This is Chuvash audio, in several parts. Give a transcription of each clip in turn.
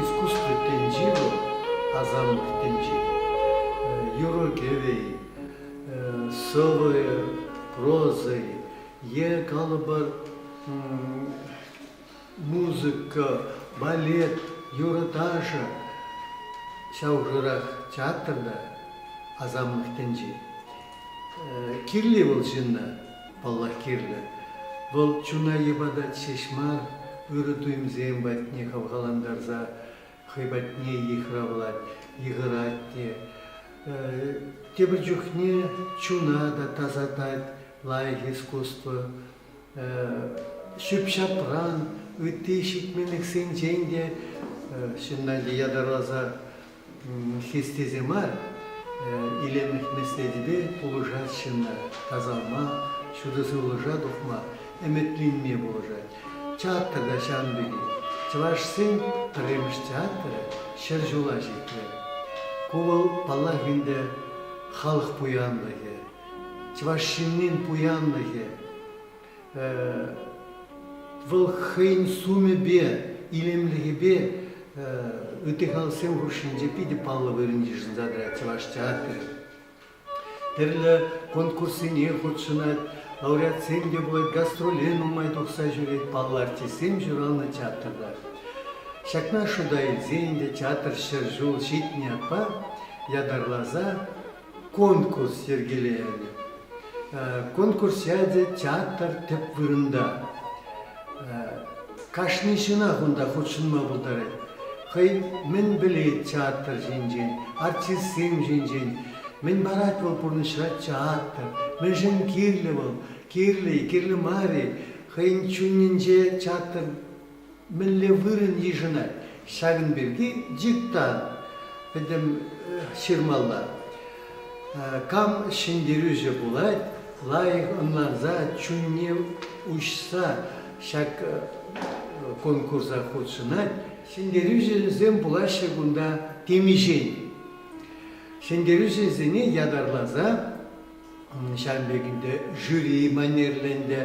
Искусство тӗнчи вӑл, асамлӑх тӗнчи. Юрӑ-кӗвӗ-и, сӑвӑ-и, проза-и е, калӑпӑр, Музыка, балет, юрӑ-ташӑ ҫав хушӑрах театрта, Асамлӑхтӗнчи. Кирли вӑл ҫынна, паллах, кирлӗ. Вӑл чуна йӑпатать ҫеҫ мар, ырӑ туйӑмсем патне хавхалантарса хӑй патне йыхравлать, йыхӑрать те. Тепӗр чухне чуна та тасатать лайӑх искусство. ҫӳп-ҫапран, ытти ҫитменлӗхсенчен те ҫынна ятарласа хистесе мар, илемлӗх меслетӗпе пулӑшать ҫынна тасалма, ҫутӑ сывлӑша тухма, ӗмӗтленме пулӑшать. Театр та ҫавӑн пекех. Чӑвашсен пӗрремӗш театрӗ ҫӗр ҫула ҫитрӗ. Ку вӑл, паллах ӗнтӗ, халӑх пуянлӑхӗ. чӑваш ҫыннин пуянлӑхӗ, вӑл хӑйӗн сумӗпе, илемлӗхӗпе ытти халӑхсем хушшинче питӗ паллӑ вырӑн йышӑнса тӑрать чӑваш театрӗ. Тӗрлӗ конкурссене хутшӑнать, лауреатсем те пулать, гастроле нумай тухса ҫӳрет, паллӑ артистсем ҫуралнӑ театрта. Ҫакна шута илсен те театр ҫӗр ҫул ҫитнӗ ятпа ятарласа конкурс йӗркелерӗ. Конкурса те театр тӗп вырӑнта. Кашни ҫынах унта хутшӑнма пултарать. Хӑй мӗн пӗлет театр ҫинчен, артистсем ҫинчен, мӗн парать вӑл пурнӑҫра театр, мӗншӗн кирлӗ вӑл, кирлӗ-и, кирлӗ мар-и, хӑйӗн чунӗнче театр мӗнле вырӑн йышӑнать, ҫакӑн пирки диктант пӗтӗм ҫырмалла. Кам ҫӗнтерӳҫӗ пулать, лайӑх ӑнланса, чунне уҫса ҫак конкурса хутшӑнать. Ҫӗнтерӳҫӗсем пулаҫҫӗ кунта темиҫен. Ҫӗнтерӳҫӗсене ятарласа Ҫавӑн пек ӗнтӗ жюри манерлӗ ӗнтӗ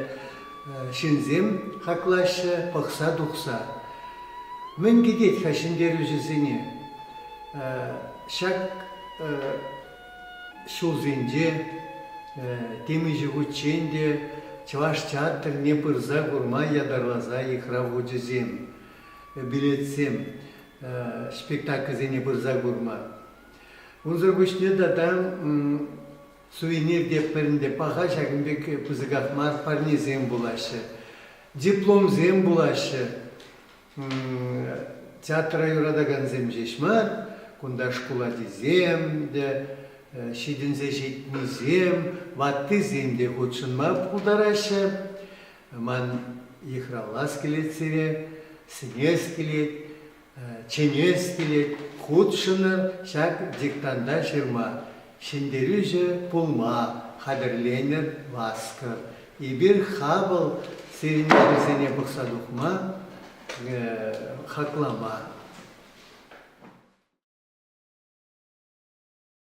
ҫынсем хаклаҫҫӗ пӑхса тухса. Мӗн кӗтет-ха ҫӗнтерӳҫӗсене? Ҫак ҫулсенче темиҫе хутчен те Чӑваш театрне пырса курма ятарласа йыхрав хучӗсем, билетсем, спектакльсене пырса курма. Унсӑр пуҫне тата сувенир те пӗринпе паха ҫакӑн пек пысӑках мар парнесем пулаҫҫӗ, дипломсем пулаҫҫӗ. Театра юратакансем ҫеҫ мар, кунта шкул ачисем те, ҫитӗнсе ҫитнисем, ваттисем те хутшӑнма пултараҫҫӗ. Ман йыхравлас килет сире, сӗнес килет. чӗнес килет, хутшӑнӑр ҫак диктанта ҫырма. Ҫӗнтерӳҫӗ пулма хатӗрленӗр, васкӑр. Эпир хапӑл сирӗн ачасене пӑхса тухма, хаклама.